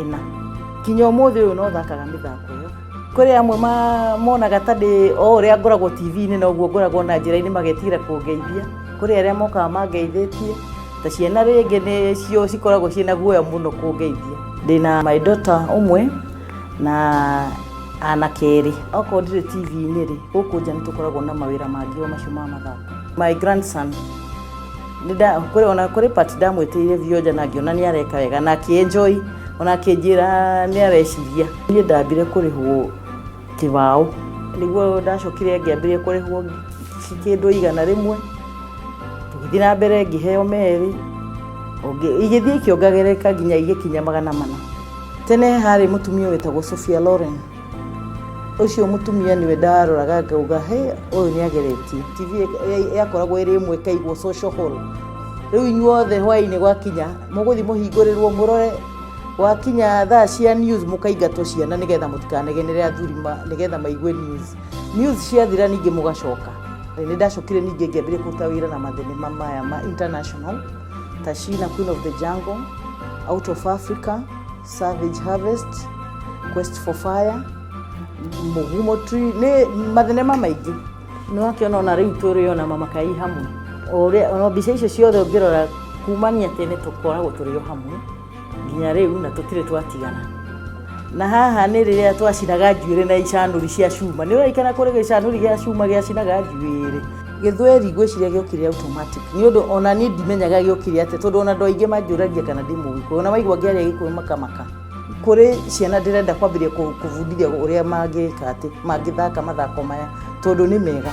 ĩna kinya ũmũthĩ ũyũ no thakaga mĩthako ĩyo kũrĩ amwe ma- monaga ta ndĩ o ũrĩa ngoragwo tv-inĩ noguo ngoragwo na njĩra-inĩ magetigĩra kũngeithia kũrĩ arĩa mokaga mangeithĩtie ta ciana rĩngĩ nĩcio cikoragwo ciĩna guoya mũno kũngeithia ndĩna my daughter ũmwe na anake erĩ okorwo ndirĩ tv-inĩ rĩ gũkũ nja nĩ tũkoragwo na mawĩra mangĩ o macio ma mathako my grandson ona kuri part ndamwitiire vioja na ngiona ni areka wega na akienjoy ona akinjira ni areciria nie ndambire kurihwo kibao niguo ndacokire ngiambirie kurihwo kindu igana rimwe tugithii na mbere ngiheo meri igithii ikiongagereka nginya igikinya magana mana tene hari mutumia witagwo Sophia Loren ucio mutumia niwe ndaroraga ngauga he uyu ni ageretie tv ya- yakoragwo iri imwe kaigwo social hall riu inyuothe hwaini gwakinya muguthi muhingurirwo murore gwakinya thaa cia news mukaingatwo ciana nigetha mutikanegenere athuri ma- nigetha maigue news news ciathira ningi mugacoka ni ndacokire ningi ngiambire kuruta wira na mathenema maya ma international tashina queen of the jungle out of africa Savage Harvest, Quest for Fire, Mugumo Tree, nĩ mathenema maingĩ. Nĩ wakĩona ona rĩu tũrĩ ona mama kai hamwe. O ũrĩa- ona mbica icio ciothe ũngĩrora kumania tene tũkoragwo tũrĩ o hamwe nginya rĩu na tũtirĩ twatigana. Na haha nĩ rĩrĩa twacinaga njuĩrĩ na icanũri cia cuma. Nĩ ũraikana kũrĩ gĩcanũri gĩa cuma gĩacinaga njuĩrĩ. gĩthweri ngwĩciria gĩokire automatic nĩ ũndũ ona niĩ ndimenyaga gĩokire atĩa tondũ ona andũ aingĩ manjũragia kana ndĩ mũgĩkũyũ ona maigua ngĩaria gĩkũyũ makamaka kũrĩ ciana ndĩrenda kwambĩrĩria kũ- kũbundithia ũrĩa mangĩka atĩ mangĩthaka mathako maya tondũ nĩ mega